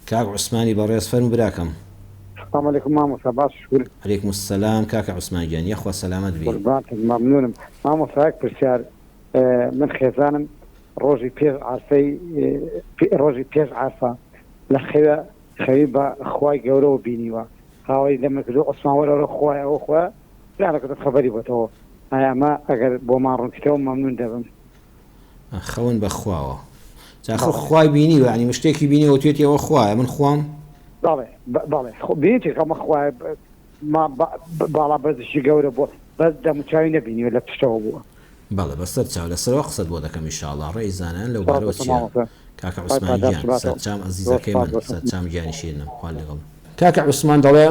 کاک عوسمانی بەڕێز فەرموو براکەم. سلام علیکم مامۆستا باش شکور. علیکم السلام کاکە عوسمان گیان یەخوا سەلامەت بی. قوربانتت مەمنونم مامۆستا یەک پرسیار من خێزانم ڕۆژی پێش عەرفەی ڕۆژی پێش عەرفە لە خەوێ خەوی بە خوای گەورەوە بینیوە هاواری لە من کردوە عوسمان وەرە وەرە خوایە ئەوە خوایە پیانەکەتم خەبەری بۆتەوە ئایا ئەمە ئەگەر بۆمان ڕونکیتەوە مەمنون دەبم. خەون بە خواوە جا خۆ خوای بینی وە ینی شتێکی بینی وە توێتی ئەوە خوایە من خوام؟ بەڵێ بەڵێ خۆ بێتی خەمە خوایە باڵا بەزشی گەورە بووە بەس دەموچوی نەبینیوە لە پشتەوە بووە بەڵێ بەسەر چاو لە سەرەوە قسەت بۆ دەکەم ئیشاڵا ڕێی زانان لەو بارەوە چیە کاکە عوسمان گیان سەرچام ئەزیزەکەی من سەرچام گیانی شیرنم خوا لەگەڵ کاکە عوسمان دەڵێ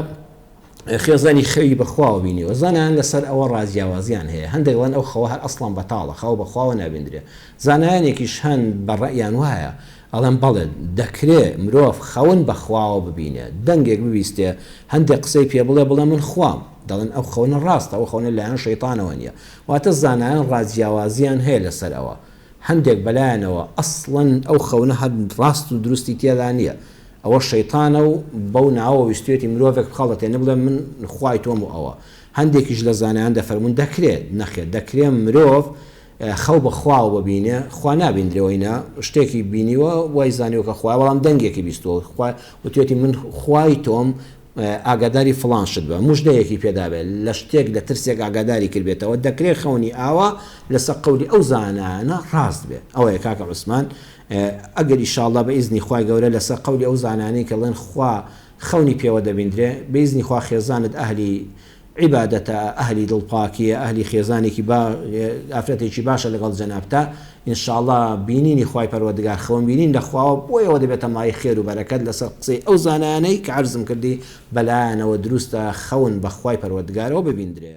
خێزانی خەوی بە خواوە بینیوە. زانایان لە سەر ئەوە ڕا جیاوازیان هەیە. هەندێک دەڵێن ئەو خەوە هەر ئەسڵەن بەتاڵە، خەو بە خواوە نابیندرێ. زانایانێکیش هەن بە ڕەئیان وایە، ئەڵێن بەڵێ، دەکرێ مرۆڤ خەون بە خواوە ببینێ. دەنگێک ببیستێ، هەندێک قسەی پێ بڵێ، بڵێ من خوام. دەڵێن ئەو خەونە ڕاستە، ئەو خەونە لە لایەن شەیتانەوە نییە. واتە زانایان ڕا جیاوازیان هەیە لە سەر ئەوە. هەندێک بەلایانەوە ئەسڵەن ئەو خەونە هەر ڕاست و دروستی تێدا نییە، ئەوە شەیتانە و بەو ناوەوە ویستویەتی مرۆڤێک بخەڵەتێنێ بڵێ من خوای تۆم و ئەوە هەندێکیش لە زانایان دەفەرموون دەکرێ نەخێر دەکرێ مرۆڤ خەو بە خواوە ببینێ خوا نابیندرێ وەینا شتێکی بینیوە وای زانیوە کە خوایە بەڵام دەنگێکی بیستوە و وتویەتی من خوای تۆم ئاگاداری فڵان شت بە، موژدەیەکی پێدابێت، لە شتێک لە ترسێک ئاگاداری کردبێتەوە، دەکرێت خەونی ئاوا لەسەر قەولی ئەو زانایانە ڕاست بێت. ئەوەیە کاکە عوسمان ئەگەر ئیشاڵڵا بە ئیزنی خوای گەورە لەسەر قەولی ئەو زانانەی کە ڵێن خوا خەونی پێوە دەبیندرێ بە ئیزنی خوا خێزانت ئەهلی عیبادەتە ئەهلی دڵ پاکیە ئەهلی خێزانێکی با ئافرەتێکی باشە لەگەڵ جەنابتا ان شاءاللە بینینی خوای پەروەردگار خەون بینین لە خواوە بۆیەوە دەبێتە مایەی خێر و بەرەکەت لەسەر قسەی ئەو زانایانەی کە عەرزم کردی بەلایانەوە دروستە خەون بەخوای پەروەردگارەوە ببیندرێ.